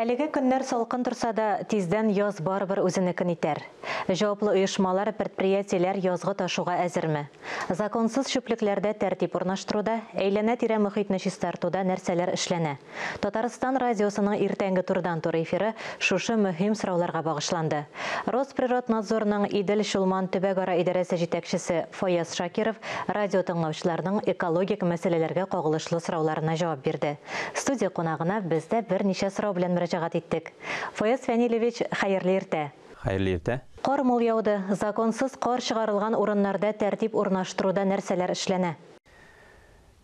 Әлеге көннәр салкын торса да, тиздән яз барыбер үзенекен итәр. Җаваплы оешмалар, предприятиеләр язгы ташуга әзерме? Законсыз чүплекләрдә тәртип урнаштыруда, әйләнә-тирә мохитне чистартуда нәрсәләр эшләнә? Татарстан радиосының иртәнге турыдан-туры эфиры шушы мөһим сорауларга багышланды. Росприроднадзорның Идел-Чулман төбәгара идарәсе җитәкчесе Фаяз Шакиров радиотыңлаучыларның экологик мәсьәләләргә кагылышлы сорауларына җавап бирде. Студия кунагына без дә берничә сорау белән мөрәҗәгать иттек. Фаяз Фәнилевич, хәерле иртә! Хәерле иртә! Кар мул яуды. Законсыз кар чыгарылган урыннарда тәртип урнаштыруда нәрсәләр эшләнә?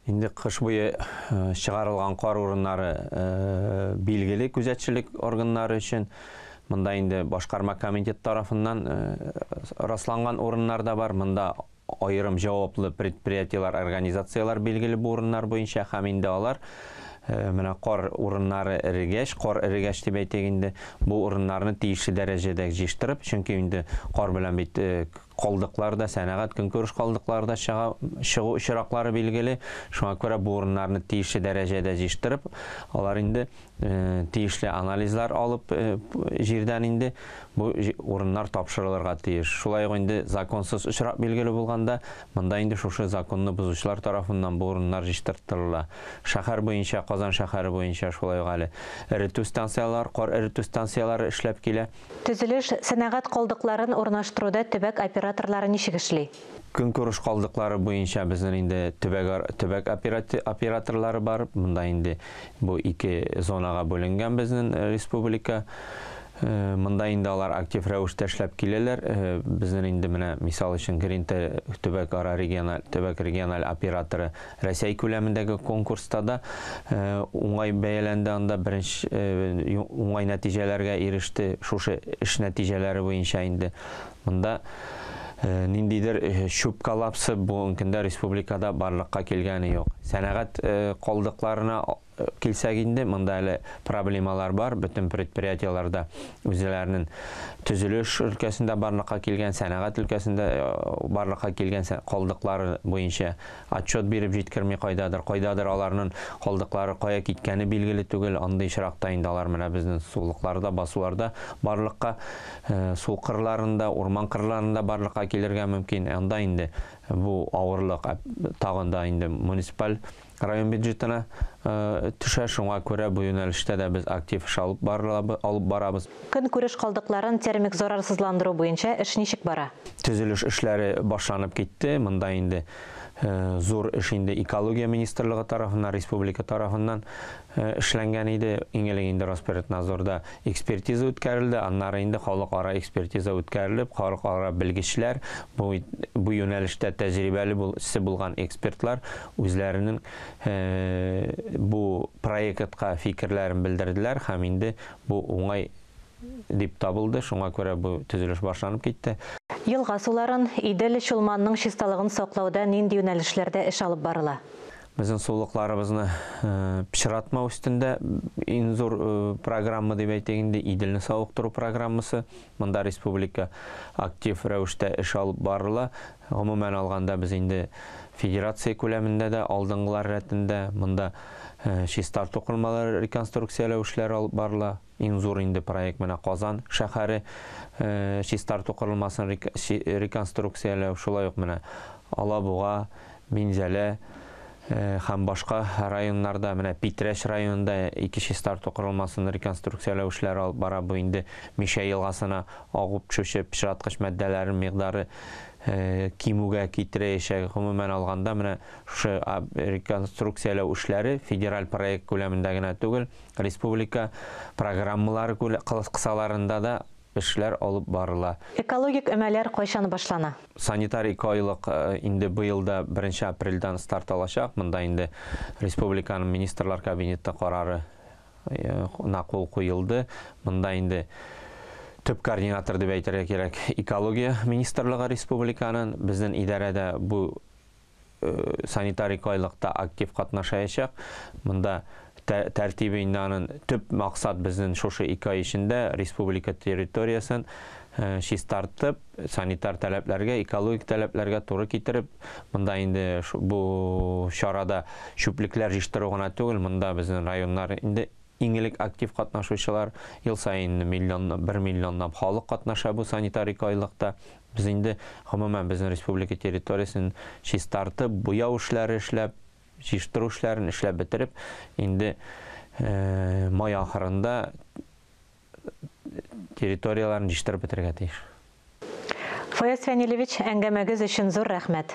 Инде кыш буе чыгарылган кар урыннары билгеле күзәтчелек органнары өчен. Монда инде башкарма комитет тарафыннан расланган урыннар да бар. Монда аерым җаваплы предприятиеләр, организацияләр билгеле бу урыннар буенча һәм инде алар менә кар урыннары эрегәч, кар эрегәч дип әйтик инде, бу урыннарны тиешле дәрәҗәдә җыештырып, чөнки инде кар белән бит калдыклар да, сәнәгать көнкүреш калдыклары да чыга, чыгу очраклары билгеле. Шуңа күрә бу урыннарны тиешле дәрәҗәдә җыештырып, алар инде Тиешле анализлар алып җирдән инде бу урыннар тапшырылырга тиеш. Шулай ук инде законсыз очрак билгеле булганда, монда инде шушы законны бозучылар тарафыннан бу урыннар җиштыртылыла. Шәһәр буенча, Казан шәһәре буенча шулай ук әле эретү станцияләр, кар эретү станцияләре эшләп килә. Төзелеш, сәнәгать калдыкларын урнаштыруда төбәк операторлары ничек эшли? Көнкүреш калдыклары буенча безнен инде төбәк операторлары бар. Монда инде бу ике зонага бүленгән безнен республика. Монда инде алар актив рәвештә эшләп киләләр. Безнен инде менә мисал өчен Гринте төбәкара региональ төбәк региональ операторы Рәсәй күләмендәге конкурста да уңай бәяләнде, анда беренче уңай нәтиҗәләргә иреште. Шушы эш нәтиҗәләре буенча инде Монда ниндидер чүп-коллапсы бүгенге көндә республикада барлыкка килгәне юк. Сәнәгать калдыкларына килсәк инде, монда әле проблемалар бар, бөтен предприятиеләрдә үзләренең төзелеш өлкәсендә барлыкка килгән, сәнәгать өлкәсендә барлыкка килгән калдыклары буенча Отчет биреп җиткерми кайдадыр, кайдадыр аларнын калдыклары кая киткәне билгеле түгел, андый очракта инде алар менә безнен сулыкларда, басуларда барлыкка, су кырларында, урман кырларында барлыкка килергә мөмкин, анда инде бу авырлык тагын да инде муниципаль район бюджетына төшә, шуңа күрә бу юнәлештә дә без актив эш алып барабыз. Көнкүреш калдыкларын термик зарарсызландыру буенча эш ничек бара? Төзелеш эшләре башланып китте. Монда инде зур эш инде Экология министрлыгы тарафыннан, республика тарафыннан эшләнгән иде. Иң элек инде Росприроднадзорда экспертиза үткәрелде, аннары инде халыкара экспертиза үткәрелеп, халыкара белгечләр, бу бу юнәлештә тәҗрибәле бул се булган экспертлар үзләренең бу проектка фикерләрен белдерделәр һәм инде Бу уңай дип табылды, шуңа күрә бу төзелеш башланып китте. Елга суларын, Идел, Чулманның чисталыгын саклауда нинди юнәлешләрдә эш алып барыла? Безнең сулыкларыбызны пычратмау өстендә иң зур программа дип әйтик инде, Иделне савыктыру программасы. Монда республика актив рәвештә эш алып барыла. Гомумән алганда, без инде федерация күләмендә дә алдынгылар рәтендә. Монда чистарту кормалары реконструкцияләү эшләре алып барыла. Иң зур инде проект менә Казан шәһәре чистарту корылмасын реконструкцияләү, шулай ук менә Алабуга, Минзәлә һәм башка районнарда, менә Питрәч районында ике чистарту корылмасын реконструкцияләү эшләре алып бара. Бу инде Мишә елгасына агып төшүче пычраткыч матдәләрнең микъдары кимүгә китерәячәк. Гомумән алганда, менә шушы реконструкцияләү эшләре федераль проект күләмендә генә түгел, республика программалары кысаларында да эшләр алып барыла. Экологик өмәләр кайчан башлана? Санитар экоайлык инде быел да беренче апрельдән старт алачак. Монда инде республиканың Министрлар Кабинеты карары на кул куелды. Монда инде төп координатор дип әйтергә кирәк, экология министрлыгы республиканың. Безнең идарә дә бу санитарик айлыкта актив катнашаячак. Монда тәртибе инде анын төп максат безнен шушы ике ай эчендә республика территориясен чистартып, санитар таләпләргә, экологик таләпләргә туры китереп, монда инде бу чарада чүплекләр җыштыру гына түгел, монда безнен районнар инде иң элек актив катнашучылар, ел саен миллион, бер миллионлап халык катнаша бу санитарик айлыкта. Без инде, гомумән, безнең республика территориясен чистартып, буяу эшләре эшләп, җыештыру эшләрен эшләп бетереп, инде май ахырында территорияләрен җыештырып бетерергә тиеш. Фаяз Фәнилевич, әңгәмәгез өчен зур рәхмәт.